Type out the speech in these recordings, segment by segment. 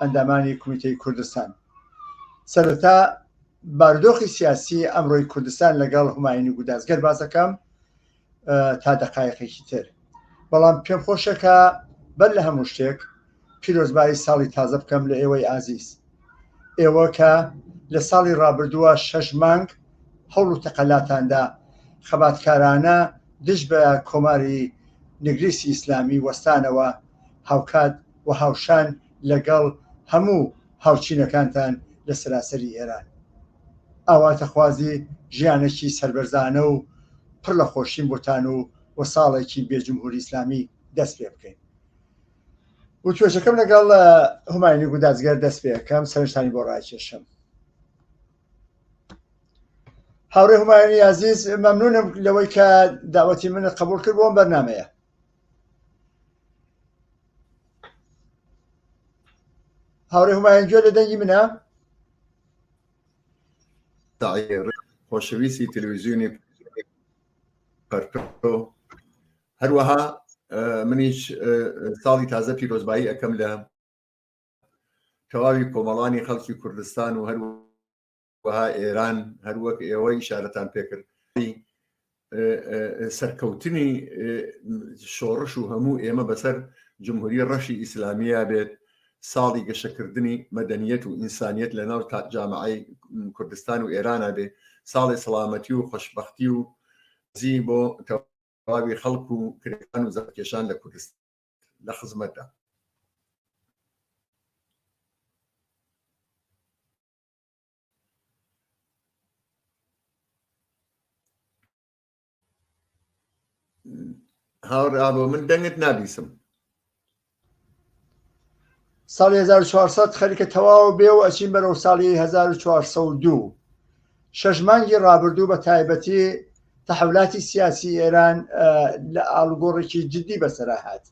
ئەندامانی کومیتەی کوردستان سەرەتا بارودۆخی سیاسی ئەمڕۆی کوردستان لەگەڵ هوماین و گوداز گەر باسەکەم تا دەقایقێکی تر بەڵام پێم خۆشەکە بەر لە هەموو شتێک پیرۆزبایی ساڵی تازە بکەم لە ئێوەی ئازیز ئێوە کە لە ساڵی ڕابردووە شەش مانگ هەوڵ و تەقەلاتاندا خەباتکارانە دژ بە کۆماری نگریسی ئیسلامی وەستانەوە هاوکات و هاوشان لەگەڵ هەموو هاوچینەکانتان لە سەراسەری ئێران. ئاواتەخوازی ژیانەکی سەربەرزانە و پڕ لە خۆشیم بۆتان و و ساڵێکی بێ جمهوری ئیسلامی دەست پێ بکەین. وتوێژەکەم لەگەڵ هوماینی گودازگەر دەست پێەکەم سەرنجتانی بۆ ڕاکێشم. هاوڕێ هومایانی عزیز مەمنونم لەوەی کە داوەتی منت قبول کرد بۆم بەرنمەیە هاورێ هومایان گوێ لە دەنگی منە خۆشەویستی تەلویزیونی پەرپۆ هەروەها منیش ساڵی تازە پیرۆزبایی ئەەکەم لە تەواوی کۆمەڵانی خەڵکی کوردستان و هەروە وەها ئێران هەروەک ئێوە ئیشارەتان پێکرد سەرکەوتنی شۆڕش و هەموو ئێمە بەسەر جمهوری ڕەشی ئیسلامیە بێت ساڵی گەشەکردنی مەدەنیەت و ئینسانیت لە ناو جامعی کوردستان و ئێرانە بێ ساڵی سەڵامەتی و خۆشببختی و زی بۆ تەواوی خەڵک و کرێکان و زەکێشان لە کوردستان لە خزمەتدا هاوڕا بۆ من دەنگت نابیسم ساڵی 1400 خەریکە تەواو بێ و ئەچین بەرەو ساڵی 1402 شەش مانگی ڕابردوو بە تایبەتی تەحولاتی سیاسی ئێران لە ئاڵگۆڕێکی جددی بەسەرا هاات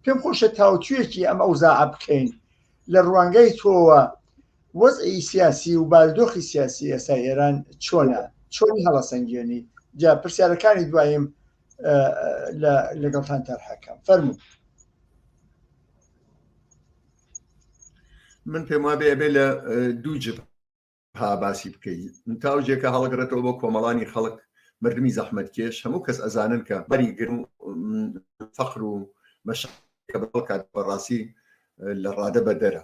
پێم خۆشە تاوتویەکی ئەم ئەوزاع بکەین لە ڕوانگەی تۆوە وەزعی سیاسی و بارودۆخی سیاسی ئێستای ئێران چۆنە؟ چۆنی هەڵەسەنگێنی؟ جا پرسیارەکانی دوایم لەگەڵتان تەرحەکەم فەرمو من پێم وابێ ئەبێ لە دوو جب ها باسی بکەیت تاوجێکە هەڵگرێتەوە بۆ کۆمەڵانی خەڵک مردمی زەحمت کێش هەموو کەس ئەزانن کە بەری گرم فەخر و مەشکە بەڵکات بەڕاستی لە ڕادە بەدەرە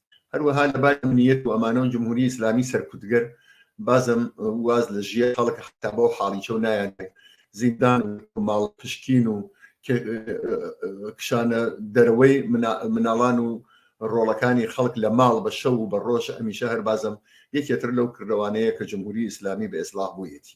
هەروەها لە باری ئەمنیەت و ئەمانەوە جمهوری ئیسلامی سەرکوتگەر بازم واز لە ژیە خەڵک حتا بۆ حاڵیچە و نایان زیندان و ماڵ پشکین و کشانە دەرەوەی مناڵان و ڕۆڵەکانی خەڵک لە ماڵ بە شەو و بە ڕۆژ ئەمیشە هەر بازم یەکێتر لەو کردوانەیە کە جمهوری ئیسلامی بە ئێسلاح بوویەتی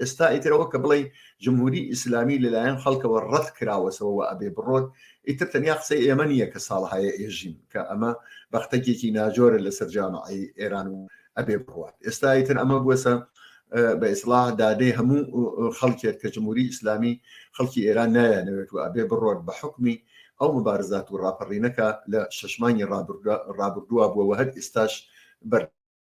ئێستا ئیتر ئەوە کە بڵێ جمهوری ئیسلامی لەلایەن خەڵکەوە ڕەت کراوەسەوە و ئەبێ بڕۆت ئیتر تەنیا قسەی ئێمە نییە کە ساڵهایە ئێژین کە ئەمە بەختەکێکی ناجۆرە لە سەررجامعی ئێران و ئەبێ بڕات ئێستا ئیتر ئەمە بووەسە بە ئیسلاح دادەی هەموو خەڵکێت کە جمهوری ئیسلامی خەڵکی ئێران نایەنەوێت و ئەبێ بڕۆت بە حکمی ئەو مبارزات و ڕاپەڕینەکە لە شەشمانی ڕابردووە بووەوە هەر ئێستاش بەر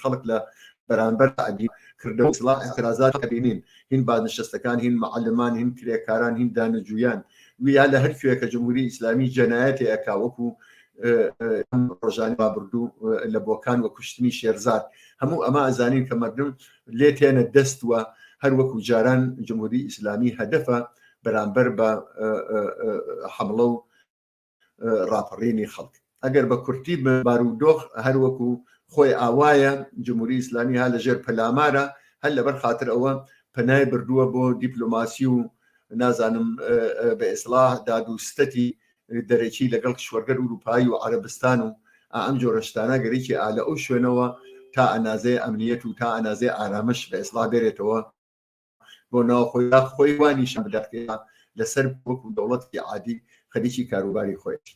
خەڵک لە بەرامبەر عەبی کردەوە سڵاح اعتراضات ئەبینین هین بازنشستەکان هین معلمان هین کرێکاران هین دانەجویان ویا لە هەر کوێکە جمهوری ئیسلامی جەنایەتی ئەکا وەکو ڕۆژانی بابردوو لە بۆکان وە کوشتنی شێرزاد هەموو ئەمە ئەزانین کە مردم لێ تێنە دەستوە هەر وەکو جاران جمهوری ئیسلامی هەدەفە بەرامبەر بە حملە و ڕاپەڕینی خەڵک ئەگەر بە کورتی بارودۆخ هەروەکو خۆی ئاوایە جمهوری ئیسلامی ها لە ژێر پەلامارە هەر لەبەر خاطر ئەوە پەنای بردووە بۆ دیپلۆماسی و نازانم بە ئێسلاح داد و ستەتی دەرەکی لەگەڵ کشوەرگەر وروپایی و عربستان و ئەم جۆرەشتانە گەرێکی ئالە ئەو شوێنەوە تا ئەنازێ ئەمنیەت و تا ئەنازێ ئارامش بە ئێسلا بێرێتەوە بۆ ناوخۆی دا خۆی وا نیشان بدات کە لەسەر وەکو دەوڵەتی عادی خەریکی کاروباری خۆیەتی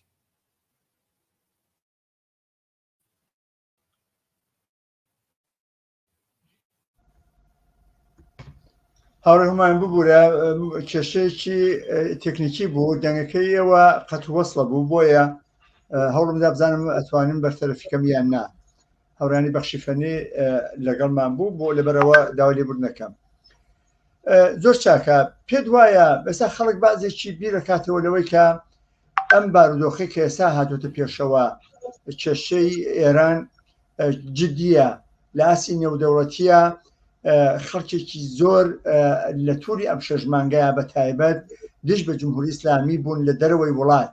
هاوڕێ هەمان ببوورە کێشەیەکی تەکنیکی بوو دەنگەکەی ئەوە قەت وەصلە بوو بۆیە هەوڵم دابزانم ئەتوانم بەرتەرەفیکەم یان نا هەورانی بەخشی فەنی لەگەڵمان بوو بۆ لەبەرەوە داوای لێبوردنەکەم زۆر چاکە پێت وایە بەسا خەڵک بازێکی بیرەکاتەوە لەوەی کە ئەم بارودۆخی کە ئێستا هاتوتە پێشەوە کێشەی ئێران جددیە لە ئاسی نێودەوڵەتیە خەڵکێکی زۆر لە تووری ئەم شەژمانگەیە بە تایبەت دژ بە جمهوری ئسلامی بوون لە دەرەوەی وڵات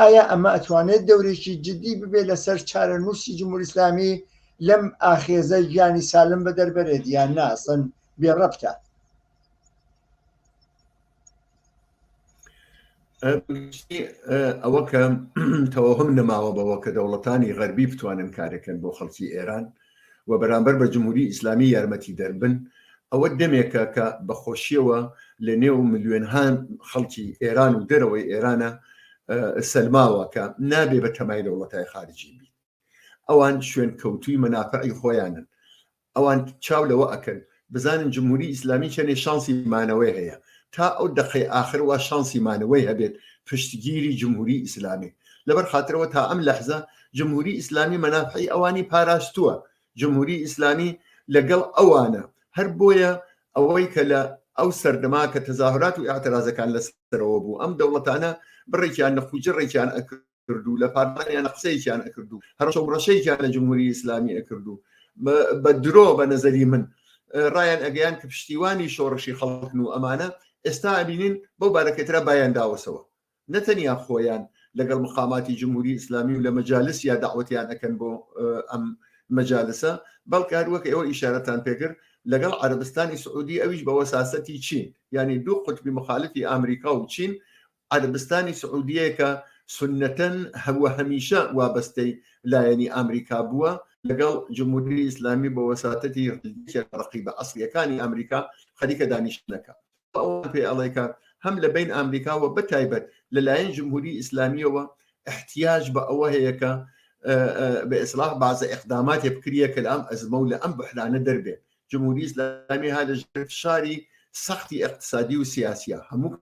ئایا ئەمە ئەتوانێت دەورێکی جددی ببێت لەسەر چارە نووسی جمهوری ئسلامی لەم ئاخێزە گیانی سالم بە دەربەرێت یان ناسن بێ ڕەبتە ئەوە کە تەوەهم نەماوە بەوە کە دەوڵەتانی غەربی بتوانن کارەکەن بۆ خەڵکی ئێران و و بەرامبەر بە جمهوری ئیسلامی یارمەتیدەر بن، ئەوە دەمێکە کە بە خۆشیەوە لە نێو ملیۆنها خەڵکی ئێران و دەرەوەی ئێرانە سەلماوە کە نابێ بە تەمای دەوڵەتای خارجی بیت ئەوان شوێن کەوتوی مەنافعی خۆیانن ئەوان چاو لەوە ئەکەن بزانین جمهوری ئیسلامی چەنێ شانسی مانەوەی هەیە تا ئەو دەقەی ئاخر وا شانسی مانەوەی هەبێت پشتگیری جمهوری ئیسلامی لەبەر خاطرەوە تا ئەم لەحزە جمهوری ئیسلامی مەنافعی ئەوانی پاراستووە جمهوری ئیسلامی لەگەڵ ئەوانە هەر بۆیە ئەوەی کە لە ئەو سەردەما کە تەزاهرات و اعترازەکان لەسەرەوە بوو ئەم دەوڵەتانە بڕێکیان نەخوجڕێکیان ئەکرد ئەکرد و لە پارلمانیانە قسەیەکیان ئەکرد و هەرشە و ڕەشەیەکیان لە جمهوری ئیسلامی ئەکرد و بە درۆ بە نەزەری من ڕایان ئەگەیان کە پشتیوانی شۆڕشی خەڵکن و ئەمانە ئێستا ئەبینین بۆ بارەکەترا بایان داوەسەوە نەتەنیا خۆیان لەگەڵ مقاماتی جمهوری ئیسلامی و لە مەجالس یا داوەتیان ئەەکەن بۆ ئەم مەجالسە بەڵکە هەروەک ئێوە ئیشارەتان پێگر لەگەڵ عربستانی سعودی ئەویش بەوە ساسەتی چین یعنی دوو قوتبی مخالفی ئامریکا و چین عەرەبستانی سعودیە کە سوننەتەن وە هەمیشە وابەستەی لایەنی ئامریکا بووە لەگەڵ جمهوری ئیسلامی بە وەساتەتی یەکێک لە ڕەقیبە ئەسڵیەکانی ئامریکا خەریکە دانیشتنەکە ئەوان پێ ئەڵێ کە هەم لە بین ئامریکا وە بەتایبەت لەلایەن جمهوری ئیسلامیەوە احتیاج بە ئەوە هەیە کە بە ئیسلاح بازە ئەقداماتێ بکریە کە لە ئەم ئەزمە و لە ئەم بحرانە دەربێ جمهوری ئیسلامی ها لە ژێر فشاری سەختی اقتصادی و سیاسیە هەموو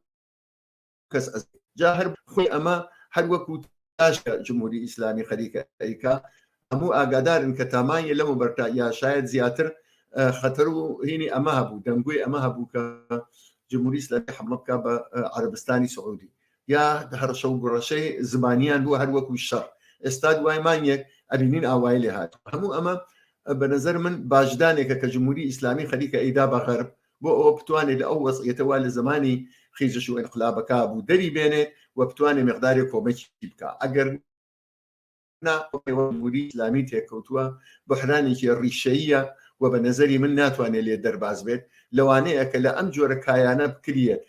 کەس جا هەر خۆی ئەمە هەر وەکو تاشە جمهوری ئیسلامی خەریکە ئەیکا هەموو ئاگادارن کە تامانە لەم بەرتا یا شاید زیاتر خەتەر و هینی ئەمە هەبوو دەنگوی ئەمە هەبوو کە جمهوری ئیسلامی حمڵە بکە بە عربستانی سعودی یا هەرشە و گوڕەشەی زمانیان بوو هەر وەکو شەڕ ئێستا دوای مانیەک ئەبینین ئاوای لێ هات هەموو ئەمە بە نظر من باشدانێکە کە جمهوری ئیسلامی خەریکە ئەیدا بە غەرب بۆ ئەوە بتوانێت لە ئەو وەزعیەتەوە لە زمانی خیزش و انقلابەکە بوو دەری بێنێت و بتوانێت مقدارێک کۆمەکی بکە ئەگەر ناوری ئسلامی تێکەوتووە بەحرانێکی ڕیشەیە و بە نظری من ناتوانێت لێ دەرباز بێت لەوانەیە کە لە ئەم جۆرە کایانە بکریت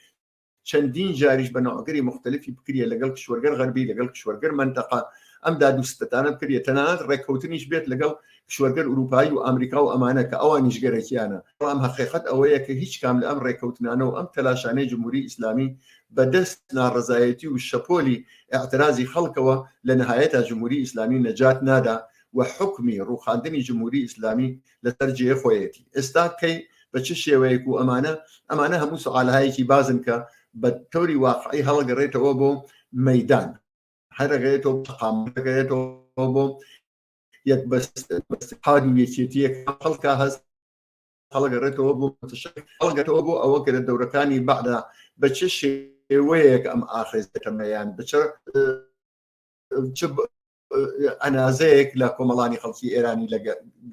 چەندین جاریش بە نەوەگەری مختلفی بکریە لەگەڵ کشوەرگەر غەربی لەگەڵ کشوەرگەر منتەقا ئەم دادوستەتانە بکریە تەنانەت ڕێککەوتنیش بێت لەگەڵ کشوەرگەر ئوروپایی و ئەمریکا و ئەمانە کە ئەوان نیشگەرەکییانە بەڵام هەقیقەت ئەوەیە کە هیچ کام لە ئەم ڕێککەوتنانە و ئەم تەلاشانەی جمهوری ئیسلامی بە دەست ناڕەزایەتی و شەپۆلی ئیعترازی خەڵکەوە لە نەهایەتا جمهوری ئیسلامی نەجات نادا و حوکمی ڕووخاندنی جمهوری ئیسلامی لەسەر جێ خۆیەتی ئێستا کەی بە چ شێوەیەک و ئەمانە ئەمانە هەموو سوالهایەکی بازن کە بە تۆری واقعی هەڵگەڕێتەوە بۆ مەدان هەرەگەێتەوە تەقامەکەێتەوە بۆ یەک بەستاد و یەکێتیە خەڵکە هەست هەڵگەڕێتەوە بۆ هەڵگەتەوە بۆ ئەوە کە لە دەورەکانی بەعدا بە چ شێوەیەک ئەم ئاخێزەکەمەیان بچ ئەنازەیەک لە کۆمەڵانی خەڵکی ئێرانی لە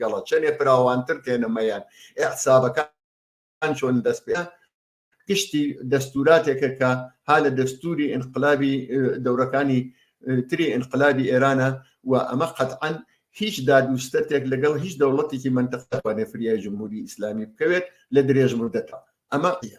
گەڵە چەندێ فراوانتر تێنەمەیان ئەحسابەکان چۆن دەست پێ گشتی دەستوراتێکە کە ها لە دەستوری ئینقلابی دەورەکانی تری ئینقلابی ئێرانە و ئەمە قەتعاان هیچ دادوستەتێک لەگەڵ هیچ دەوڵەتێکی منتەخەوانێ فریای جمهوری ئیسلامی بکەوێت لە درێژ مدەتا ئەمە قە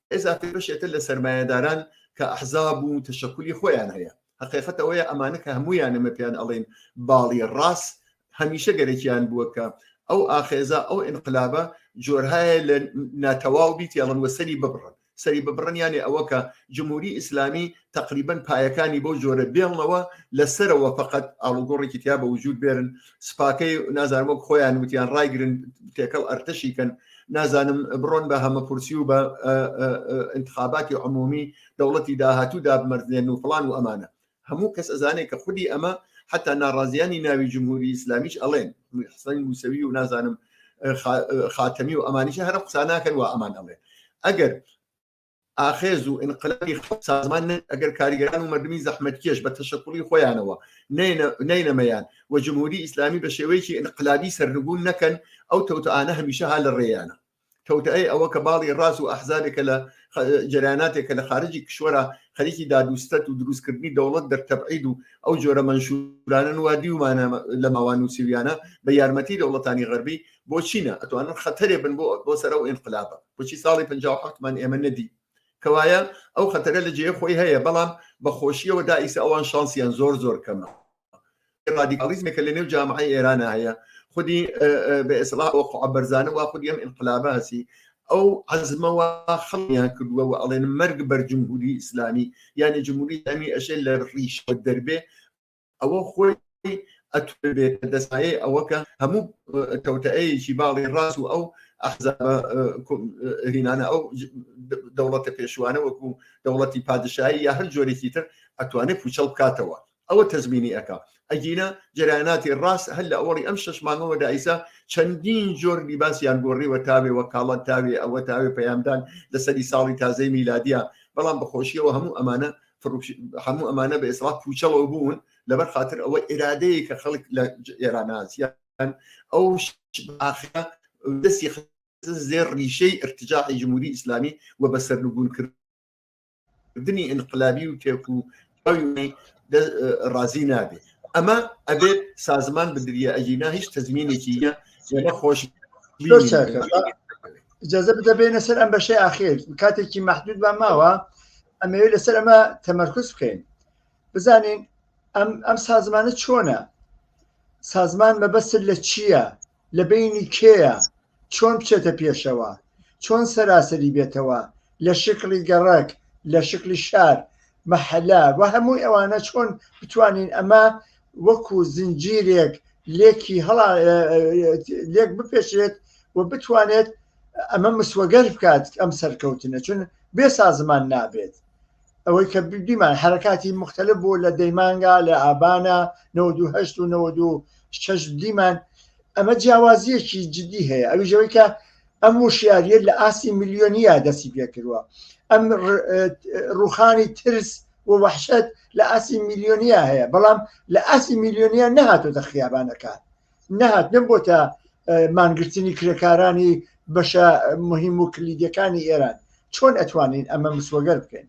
ئێستا بەشێکە لە سەرمایەداران کە ئەحزاب و تەشەکولی خۆیان هەیە هەقیقەت ئەوەیە ئەمانە کە هەمویان ئەمە پێیان ئەڵین باڵی ڕاست هەمیشە گەرەکیان بووە کە ئەو ئاخێزە ئەو ئینقلابە جۆرهایە لە ناتەواو بیت یاڵن وە سەری ببڕن سەری ببڕنیانێ ئەوە کە جمهوری ئیسلامی تەقریبەن پایەکانی بەو جۆرە بێڵنەوە لە سەرەوە فقط ئاڵوگۆڕێکی تیا بە وجود بێرن سپاکەی نازانم وەک خۆیان وتیان ڕایگرن تێکەڵ ئەرتەشیکەن نازانم بڕۆن بە هەمە کورسی و بە انتخاباتی عمومی دەوڵەتی داهاتوو دابمەردێن و فلان و ئەمانە هەموو کەس ئەزانێت کە خودی ئەمە حتا ناڕازیانی ناوی جمهوری ئیسلامیش ئەڵێن حسەن موسەوی و نازانم خاتەمی و ئەمانیش هەرە قساناکەن و ئەمان ئەڵێ ئەگەر ئاخێز و ئینقلابی خەڵک سازمان نەبێت، ئەگەر کارگەران و مەردمی زەحمەتکێش بە تەشەکوڵی خۆیانەوە نەینەمەیان و جمهوری ئیسلامی بە شێوەیەکی ئینقلابی سەرنگوون نەکەن، ئەو تەوتئانە هەمیشە هەر لە ڕێیانە. تەوتئەی ئەوە کە باڵی ڕاست و ئەحزابێکە لە جەرەیاناتێک کە لە خارجی کشوەرە خەریکی داد و ستەت و دروستکردنی دەوڵەت دەر تەبعید و ئەو جۆرە مەنشورانن وا دیومانە لە ماوە نووسیویانە بە یارمەتی دەوڵەتانی غەربی بۆچینە ئەتوانن خەتەرێ بن بۆ بۆ سەر ئەو ئینقلابە بچی ساڵی 1970مان ئێمە نەدی کەوایە ئەو خەتەرە لە جێ خۆی هەیە بەڵام بەخۆشیەوە دائیسە ئەوان شانسیان زۆر زۆر کەمە ڕادیکالیزمێکە لە نێو جامعی ئێرانە هەیە خودی بە ئێسڵا ئەوقع بەرزانە وا خودی ئەم ئینقلابە هەسی ئەو عزمەوە خەڵیان کردووە و ئەڵێن مەرگ بەر جمهوری ئیسلامی یعنی جمهوری ئەمی ئەشێ لە ڕیش دەربێ ئەوە خۆی ئەتوێتە دەسایەی ئەوە کە هەموو کەوتەیەکی باڵی ڕاست و ئەو ئەحزابهینانە ئەو دەوڵەتە پێشوانە وەکو دەوڵەتی پادشایی یا هەر جۆرێکی تر ئەتوانێت پوچەڵ بکاتەوە ئەوە تەزمینی ئەەکە ئەگینە جرایاناتی ڕاست هەر لە ئەوەڵی ئەم شش مانگەوە دایسا چەندین جۆر لیباسیان گۆڕیوە تاوێ وە کاڵە تاوێ ئەوە تاوێ پەیامدان لەسەری ساڵی تازەی میلادیا بەڵام بەخۆشیەوە هەموو ئەمانە هەموو ئەمانە بە ئێسڵات پوچەڵەوە بوون لەبەر خاطر ئەوە ئێرادەیە کە خەڵک لە ئێرانازیە ئەو دەستی زێر ڕیشەی ارتجاعی جمهوری ئیسلامی و بە سەرنگون کردنی انقلابی و تێک و ڕازی نابێت ئەمە ئەبێت سازمان بدریە ئەگینا هیچ تەزمینێکی یە نەخۆش جەزە بدەبێنە سەر ئەم بەشەی ئاخیر کاتێکی محدود بە ماوە ئەمەوێت لەسەر ئەمە تەمەرکز بکەین بزانین ئەم ئەم سازمانە چۆنە سازمان مەبەسر لە چییە لە بینی کێیە چۆن بچێتە پێشەوە چۆن سەراسەری بێتەوە لە شکڵی گەڕک لە شکلی شار مەحەلا و هەمووی ئەوانە چۆن بتوانین ئەمە وەکو زنجیرێک لێکی هەڵا لێک بپێشێت و بتوانێت ئەمە مسوەگەر بکات ئەم سەرکەوتنە چون بێ سازمان نابێت ئەوەی کە دیمان حرکاتی مختلف بوو لە دەیمانگا لە ئابانە 1970 و 1970 دیمان ئەمە جیاوازیەکی جددی هەیە ئەوی ژەوەی کە ئەم وشیاریە لە ئاستی میلیۆنیە دەستی پێکردوە ئەم ڕوخانی ترس و وەحشەت لە ئاسی میلیۆنیا هەیە بەڵام لە ئاسی میلیۆنیا نەهاتۆتە خیابانەکان نەهاتنە بۆتە مانگرتنی کرێکارانی بەشە مهم و کلیدەکانی ئێران چۆن ئەتوانین ئەمە مسوەگەر بکەین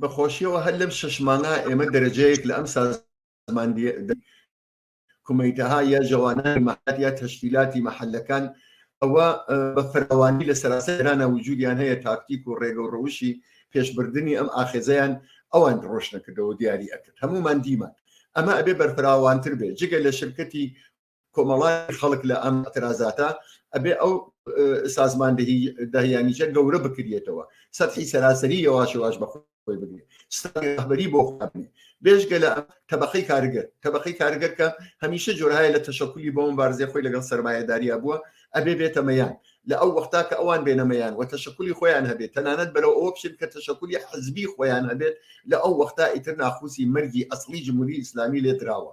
بەخۆشیەوە هەر لەم شەشمانە ئێمە دەرەجەیەک لە ئەم سازمان کومیتەها یا جەوانانی مەحەل یا تەشکیلاتی مەحەلەکان ئەوە بە فراوانی لە سەراسە ئێرانە وجودیان هەیە تاکتیک و ڕێگە و ڕەوشی پێشبردننی ئەم ئاخێزیان ئەوان ڕۆشنەکردەوە دیاری ئەکرد هەمومان دیمان ئەمە ئەبێ بەرفراوانتر بێ جگە لە شرکەتی کۆمەڵای خەڵک لە ئەم ترازاتە ئەبێ ئەو سازماندەهی داهیانیشە گەورە بکرێتەوە سەدحی سەراسەری یەواشەواش بەخۆ خۆی بگرێت سیستەمی ڕەهبەری بۆ خۆبنێ بێژگە لە تەبقەی کارگەر تەبقەی کارگەر کە هەمیشە جۆرهایە لە تەشەکولی بۆم بارزێ خۆی لەگەڵ سەرمایەداریا بووە ئەبێ بێتەمەیان لە ئەو وەختا کە ئەوان بێنەمەیان و تەشەکولی خۆیان هەبێت تەنانەت بەرەو ئەوە بچێت کە تەشەکولی حەزبی خۆیان هەبێت لە ئەو وەختا ئیتر ناخوسی مەرگی ئەسڵی جمهوری ئیسلامی لێ دراوە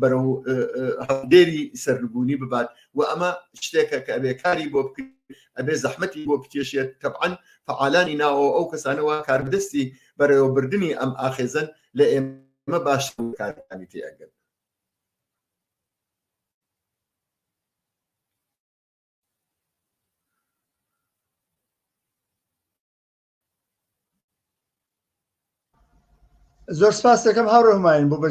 بەرەو هەڵدێری سەربوونی ببات و ئەمە شتێکە کە ئەبێ کاری بۆ بکرێت ئەبێ زەحمەتی بۆ بکێشێت تەبعاان فعالانی ناوە ئەو کەسانەوە کاردەستی بەرەوەبردننی ئەم ئاخێزن لە ئێمە باش کارەکانی تێگەن زۆر سپاس دەکەم هاوڕێ هەماین بۆ بەژ